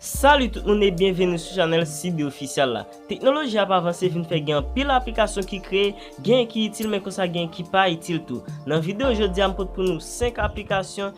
Salut tout moun e byenveni sou chanel CB Official la. Teknoloji ap avanse vin fè gen pil aplikasyon ki kreye, gen ki itil men konsa gen ki pa itil tou. Nan video jodi a m pot pou nou 5 aplikasyon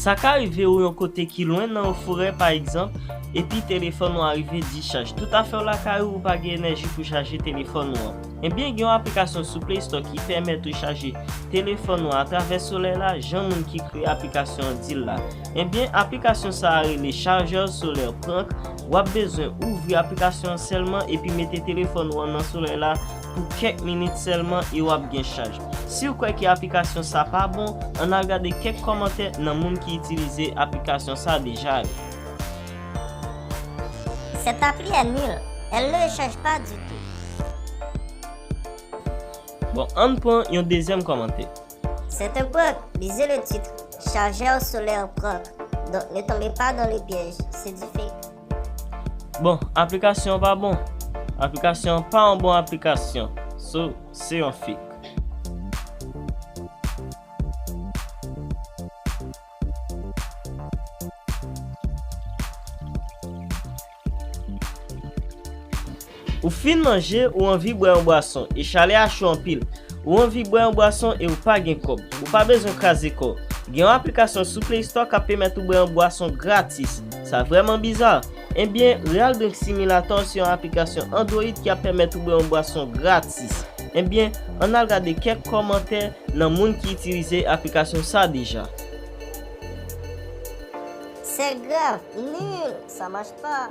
Sa ka rive ou yon kote ki lwen nan yon forè pa egzanp, epi telefòn ou a rive dichaj. Tout afè w lakay ou, ou pa gen enèji pou chaje telefòn ou an. Ebyen gen yon aplikasyon sou Play Store ki pèmèt ou chaje telefòn ou an atravè solèy la jan moun ki kreye aplikasyon an di l la. Ebyen aplikasyon sa a rele Chargeur Solaire Prank, w ap bezwen ouvri aplikasyon an sèlman epi mete telefòn ou an nan solèy la pou kèk minit sèlman e w ap gen chaj. Siw kwè ke aplikasyon sa pa bon, ann al gade kèk kòmantè nan moun ki itilize aplikasyon sa deja yo. Cette appli est nulle, elle ne recharge pas du tout. Bon, ann pran yon dezyèm kòmantè. C'est un prank, lisez le titre, chargeur solaire prank, donc ne tombez pas dans le piège, c'est du fake. Bon aplikasyon an pa bon. Aplikasyon an pa yon bon aplikasyon. So, se yon fake. Ou fin manje, ou anvi bwè yon bwason, e chalè a cho anpil. Ou anvi bwè yon bwason e ou pa gen kòb. Ou pa bezwen kraze kò w. Gen yon aplikasyon sou Play Store kap pèmèt ou bwè yon bwason gratis. Sa vrèman bizar? Enbyen, Real Drink Simulator se yon aplikasyon Android ki ap pèmèt ou bwè yon bwason gratis. Enbyen, ann al gade kèk kòmantè nan moun ki itilize aplikasyon sa deja. C'est grave nul! Ça marche pas!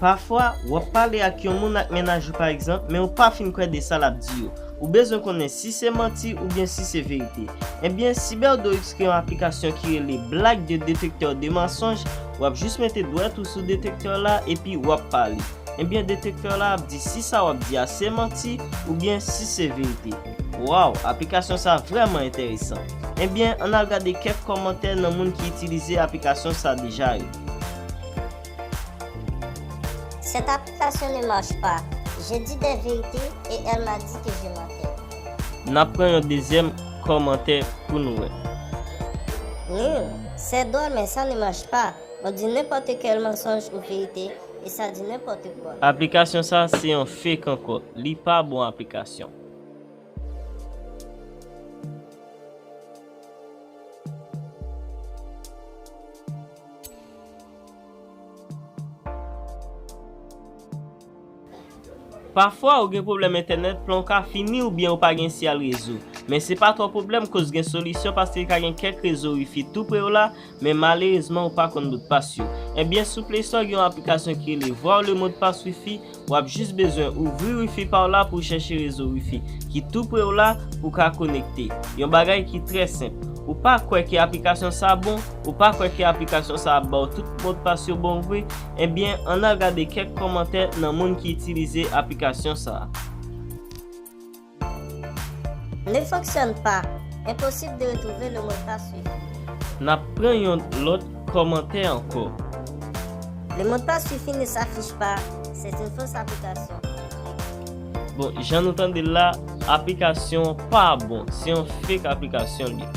Pafwa, w ap pale ak yon moun ak mennaj ou pa egzanp, men ou pa fin kwè de sa l ap di yo. Ou bezwen konnen si se manti oubyen si se verite. Ebyen, CyberDoIps kreye yon aplikasyon ki rele Black de Detecteur de Mensonges, w ap jis mete dwèt ou sou detektè la epi w ap pale. Ebyen detektè la ap di si sa w ap di a se manti oubyen si se verite. Waw, aplikasyon sa vrèman enteresan. Ebyen, ann al gade kèk kòmantè nan moun ki itilize aplikasyon sa deja yo. Cette application ne marche pas, je dis des vérités et elle m'a dit que je mentais. Nap pran yon dezyèm kòmantè pou nou wè. Nil, c'est drôle mais ça ne marche pas, on dit n'importe quel mensonge ou vérité et ça dit n'importe quoi. Aplikasyon sa se yon fake ankò, li pa bon aplikasyon. Pafwa ou gen pwoblèm entènèt, plan w ka fini oubyen ou pa gen siyal rezo. Men se pa twò pwoblèm koz gen solisyon paske ka gen kèk rezo wifi tou pre w la, men malerezman ou pa konn modpas yo. Ebyen sou playstore gen yon aplikasyon ki rele Voir le mot de passe wifi Wap jis bezwen ouvri wifi pa w la pou w chèche rezo wifi ki tou pre w la pou w ka konekte. Yon bagay ki trè senp. Ou pa kwè ke aplikasyon sa bon? Ou pa kwè ke aplikasyon sa ap ba w tout modpas yo bon vre? Ebyen ann al gade kèk kòmantè nan moun ki itilize aplikasyon sa. Ne fonctionne pas, impossible de retrouver le mot de passe suivi. Nap pran yon lot komantè anko. Le mot de passe suivi ne s'affiche pas, c'est une fausse application. Bon jan nou tande l la aplikasyon an pa bon se yon fake aplikasyon l ye.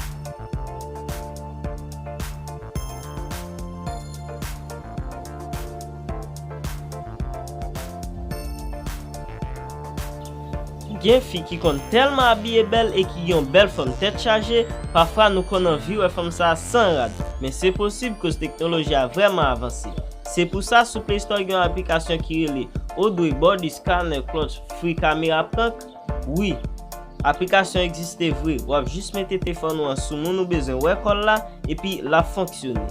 Gen fi ki konn tèlman abiye bèl e ki gen yon bèl fòm tèt chaje, pafwa nou konn anvi wè fanm sa a san rad, men se posib koz teknoloji a vrèman avanse. Se pou sa sou Play Store gen yon aplikasyon ki rele Odway Body Scanner Clutch Free Camera Prank. Wi, aplikasyon egziste vre, wap jis mete tefòn ou an sou moun ou bezwen wè kò l la epi lap fonksyone.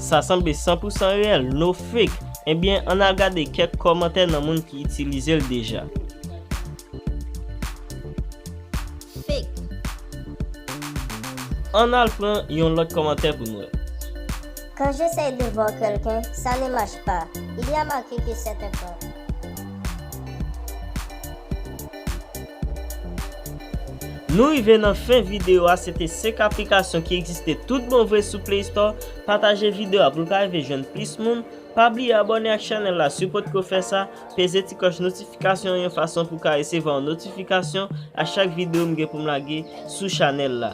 Sa sanble 100 pou 100 reyèl, no fake! Ebyen, ann al gade kèk kòmantè nan moun ki itilize l deja. Ann al pran yon lòt kòmantè pou n wè. Quand j'essaie de voir quelqu'un, ça ne marche pas, il y a marqué que c'est un con. Nou rive nan fen video a, se te 5 aplikasyon ki egziste tout bon vre sou play store, pataje video a pou l ka rive jwenn plis moun, pa bliye abòne ak chanèl la si w potko fè sa, peze ti klòch notifikasyon an yon fason pou w ka resevwa yon notifikasyon a chak video m gen pou m lage sou chanèl la.